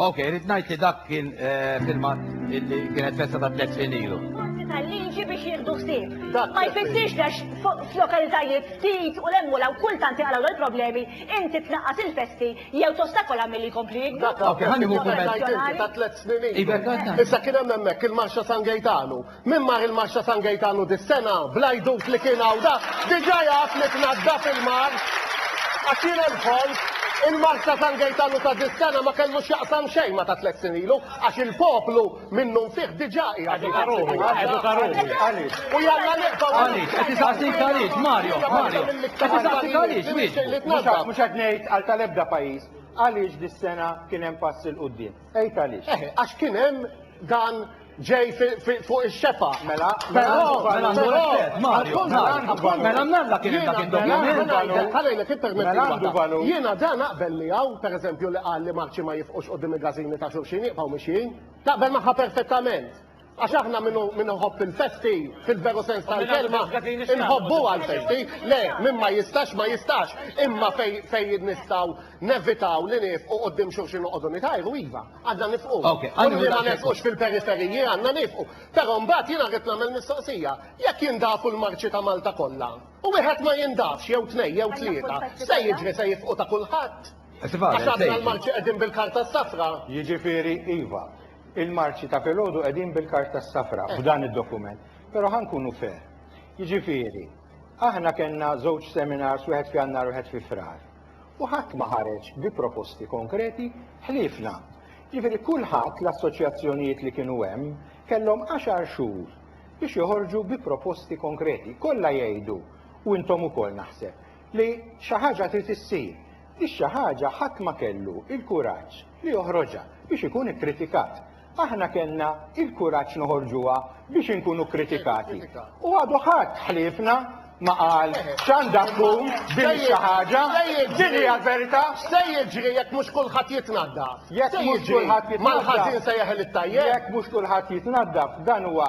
Ok, rrid ngħid li dak kien eh, filmat illi kienet festa ta' tliet snin ilu. tal-liġi biex jieħdu ħsieb. Dak Ma jfissirx li għax fuq- f'lokalitajiet ftit u l-emmula u kultant għalaw l-problemi, inti tnaqqas il-festi jew tostakola milli jkompli jikber. Dak kien il-moviment ta' tliet snin ilu. Issa kien hemm hemmhekk il-Marxa San Gejtanu. Min mar il-Marxa San Gejtanu dis-sena, bl-għajdut li kien hawn da, diġà jaf li tnaddaf il-mar. Għax jiena dħolt, il-Marxa San Gejtanu ta' dis-sena ma kellu x'jaqsam xejn ma' ta' tliet snin ilu, għax il-poplu Minnufih diġà qiegħed iħassibni għalih. U jalla nibqgħu Għaliex? Qed isaqsik għaliex, Mario, Mario. Qed isaqsik għaliex, Mister. Mhux qed ngħid għal tal-ebda pajjiż għaliex dis-sena kien hemm pass 'il quddiem. Għid għaliex. Eh, għax kien hemm dan ġej fuq ix-xefa. Mela, mela, mela, mela, mela, mnalla kien hemm dak id-dokument. Ħalejlek ippermetti. Jiena dan naqbel miegħu, pereżempju, li qal li Marċi ma jifqux quddiem il-gazini ta' xulxin jibqgħu mixjin. Taqbel magħha perfettament. Għax aħna min iħobb il-festi, fil-veru sens tal-kelma, inħobbu għal-festi, le, min ma jistax, ma jistax, imma fej nistaw nevitaw li nif u għoddim xurxin u għoddu nitajru, iva, għadna nifqu. U li ma nifqux fil-periferiji għanna nifqu. Pero mbat jina għet namel mistoqsija, jek jindafu l-marċi ta' Malta kolla, u wieħed ma jindafx jew tnej jew tlieta, se jiġri se jifqu ta' kulħadd. Għax aħna l-Marċi qegħdin bil-karta s-safra. Jiġifieri, iva, il-Marċi ta' filgħodu qegħdin bil-karta s-safra f'dan id-dokument. Però ħa nkunu fair. Jiġifieri, aħna kellna żewġ seminars wieħed f'Jannar u wieħed fi Frar. U ħadd ma ħareġ bi proposti konkreti ħliefna. Jiġifieri kulħadd l-assoċjazzjonijiet li kienu hemm kellhom għaxar xhur biex joħorġu bi proposti konkreti. Kollha jgħidu, u intom ukoll naħseb, li xi ħaġa trid issir. Ix-xi ħaġa ħadd ma kellu l-kuraġġ li joħroġha biex ikun ikkritikat. Aħna kellna l-kuraġġ noħorġuha biex inkunu kkritikati. U għadu ħadd ħliefna ma qal x'għandha tkun din xi ħaġa, din hija l-verità. Se jiġri jekk mhux kulħadd jitnaddaf. Jekk mhux kulħadd jitnaddaf. Mal-ħażin se jeħel it-tajjeb. Jekk mhux kulħadd jitnaddaf, dan huwa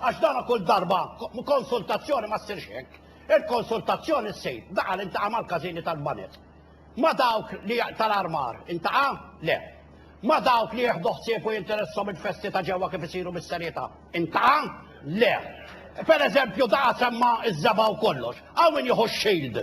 Għax dan kull darba konsultazzjoni ma ssirx hekk. Il-konsultazzjoni ssir daqa l-intaqa' mal-każini tal-banet. Ma dawk li tal-armar intaqa'? Le. Ma dawk li jieħdu ħsieb u jinteressom il-festi ta' ġewwa kif isiru bis-serjetà intaqa'? Le. Per eżempju daqa semma iż-żebgħa u kollox. Hawn min jieħu x-shield.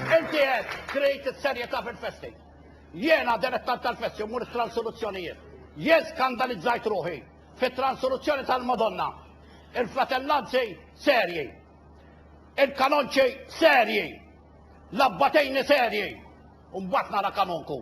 Inti qed trid is-serjetà fil-festi. Jiena direttant tal-festi u mmur it-transoluzzjonijiet. Jien skandalizzajt ruħi fit-transoluzzjoni tal-Madonna. Il-fratellanzi serji. Il-kanonċi serji. L-abbatejni serji. U mbagħad nara kanonku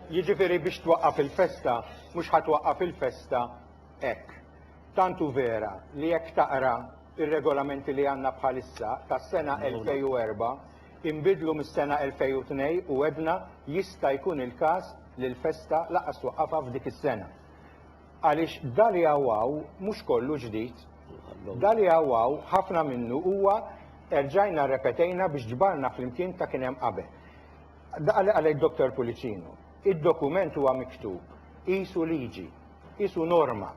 Jiġifieri biex twaqqaf il-festa mhux ħa twaqqaf il-festa hekk. Tant hu vera li jekk taqra r-regolamenti li għandna bħalissa tas-sena 2004 inbidlu mis-sena 2002 u għedna jista' jkun il-każ li l-festa lanqas twaqqafha f'dik is-sena. Għaliex da li hawn hawn mhux kollu ġdid. Da li hawn hawn ħafna minnu huwa erġajna rrepetejna biex ġbarna flimkien ta' kien hemm qabel. Daqal għalhekk Dottor Pullicino, id-dokument huwa miktub qisu liġi, qisu norma.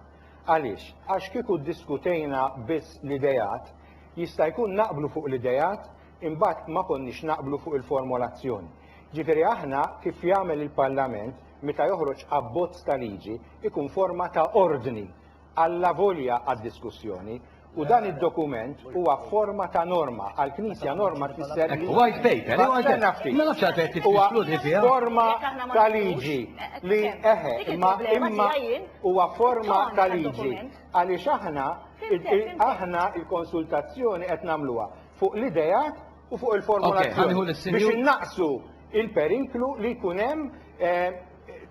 Għaliex? Għax kieku ddiskutejna biss l-ideat, jista' jkun naqblu fuq l-ideat, imbagħad ma konniex naqblu fuq il-formolazzjoni. Ġifieri aħna kif jagħmel il-Parlament meta joħroġ abbozz ta' liġi, ikun forma ta' ordni allavolja għad-diskussjoni, u dan id-dokument huwa forma ta' norma, għall-Knisja norma tfisser li White paper, eh, white Tenna paper. ftit. Ma nafx għalfejn qed Huwa titkludi fiha. forma Jekk aħna ma ta' nagħmlux, liġi eh, li eh, eħe, dik imma il-problema imma tiegħi jien, huwa forma toni ta' liġi tad-dokument. għaliex aħna Fimtek, il- il- fimtek. aħna il-konsultazzjoni qed nagħmluha fuq l-ideat u fuq Ok, ħaniħu il-formulazzjoni biex lis-Sinjur- innaqsu il-periklu li jkun hemm eh,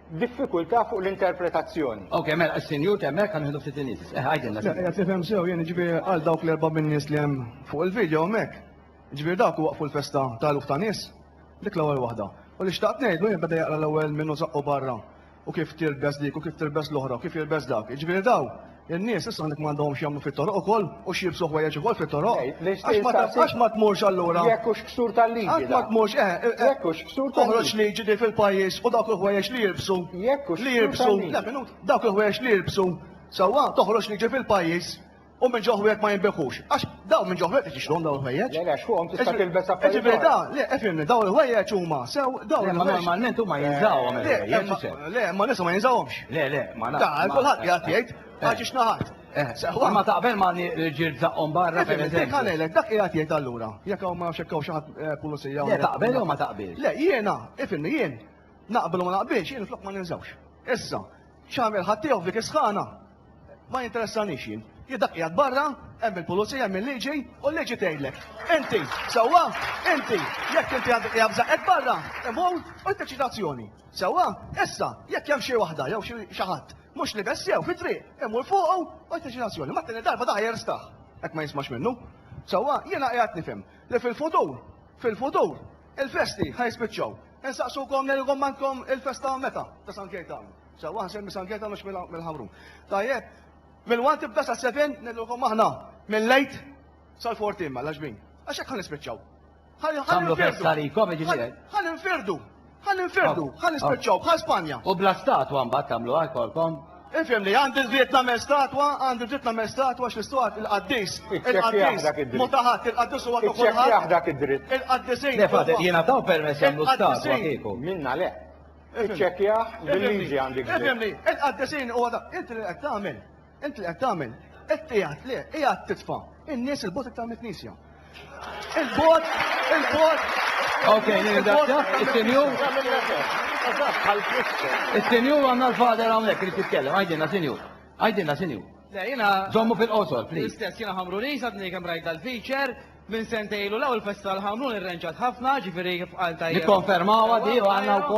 diffikultà fuq l-interpretazzjoni. Ok, mela, s-senjur temmek għan ħedu ftit inis. Eh, għajdinna. Għat nifem sew, jeni ġbi għal dawk l-erba minn nis li jem fuq il-video mek. Ġbi dawk waqfu l-festa ta' luf ta' nis, dik l-ewel wahda. U li xtaqt nejdu jem bada jaqra l-ewel minnu zaqqu barra. U kif tirbes dik, u kif tirbes l-ohra, u kif jirbes dak. Ġbi daw, In-nies issa hawnhekk m'għandhom x'jagħmlu fit-toroq ukoll u x'jilbsu ħwejjeġ ukoll fit-toroq. Għax ma tmurx allura. Jekk hux ksur tal-liġi. Għax ma tmurx, eh, eh, eh. Jekk hux ksur tal-liġi. Toħroġ liġi din fil-pajjiż u dawk il-ħwejjeġ li jilbsu. Jekk hux. Li jilbsu. Le minut, dawk il-ħwejjeġ li jilbsu. Sewwa, toħroġ liġi fil-pajjiż u minn ġo ħwejjeġ ma jinbigħux. Għax Dawn minn ġo ħwejjeġ tixtruhom dawn il-ħwejjeġ? Le, le, għax fuqhom tista' tilbes affarijiet. Jiġifieri da, le, ifhimni, dawn il-ħwejjeġ huma sew, dawn il-ħwejjeġ. Ma normalment huma jinżawhom il-ħwejjeġ u sew. Le, imma nies ma jinżawhomx. Le, le, ma nafx. Da, kulħadd qiegħed jgħid, għax ixnaħat. Sewa. Ma taqbel ma l-ġirt zaqqhom barra per eżempju. Dik għalelek, dak qiegħed jgħid allura. Jekk hawn ma nafx hekk hawn xi ħadd pulizija. Le, taqbel jew ma taqbilx? Le, jiena, ifhimni jien, naqbel u ma naqbilx, jien flok ma ninżawx. Issa, x'għamel ħaddieħor f'dik is-sħana? Ma jinteressanix jien. Jien dak qiegħed barra, hemm il-pulizija, hemm il-liġi, u l-liġi tgħidlek. Inti, sewwa, inti, jekk inti għandek qiegħed bżaqek barra, imur u jteċċi azzjoni. Sewwa, issa, jekk hemm xi waħda jew xi ħadd mhux libes sew fit-triq, imur fuqu u jteċċi azzjoni. Ma t-tieni darba daħ jerstaħ, hekk ma jismax minnu. Sewwa, jiena qiegħed nifhem li fil-futur, fil-futur, il-festi ħajspiċċaw. Insaqsukom li jkommandkom il-festa meta ta' San Kejtan. Sewwa ħsir misangeta mhux mill-ħamrun. Tajjeb, mill-1 tibda sa 7 nillukom aħna minn lejt sal-14 ma laġbin. Għax hekk ħanispiċċaw. Għamlu festa li kom ġifieri. Ħan infirdu. Ħan infirdu. Ħan nispiċċaw bħal Spanja. U bla statwa mbagħad tagħmlu għalkolkom. Infhem li għandi dritt nagħmel statwa, għandi dritt nagħmel statwa x'istwat il-qaddis. Il-qaddis. Mutaħat il-qaddis huwa ta' kulħadd. Il-qaddisejn. Le fadet jiena taw permess jagħmlu statwa kieku. Minna le. Iċċekkjah bil-liġi għandik dritt. Ifhimni, il-qaddisin huwa dak. Int li qed tagħmel, int li qed tagħmel, qed qiegħed le, qiegħed titfa' in-nies il-bogħod iktar mill-Knisja. Il-bogħod, il-bogħod. Ok, nirringrazzjak, is-senjur. Is-senjur għandna l-fader hawnhekk li titkellem, għajdilna senjur. Għajdilna senjur. Le, jiena. Żommu fil-qosor, please. L-istess jiena ħamru li sadni kemm rajt dal-feature minn sentejlu l-ewwel festa l-ħamrun irrenġat ħafna, ġifieri kif qal tajjeb. Nikkonfermawha di u għandna wkoll.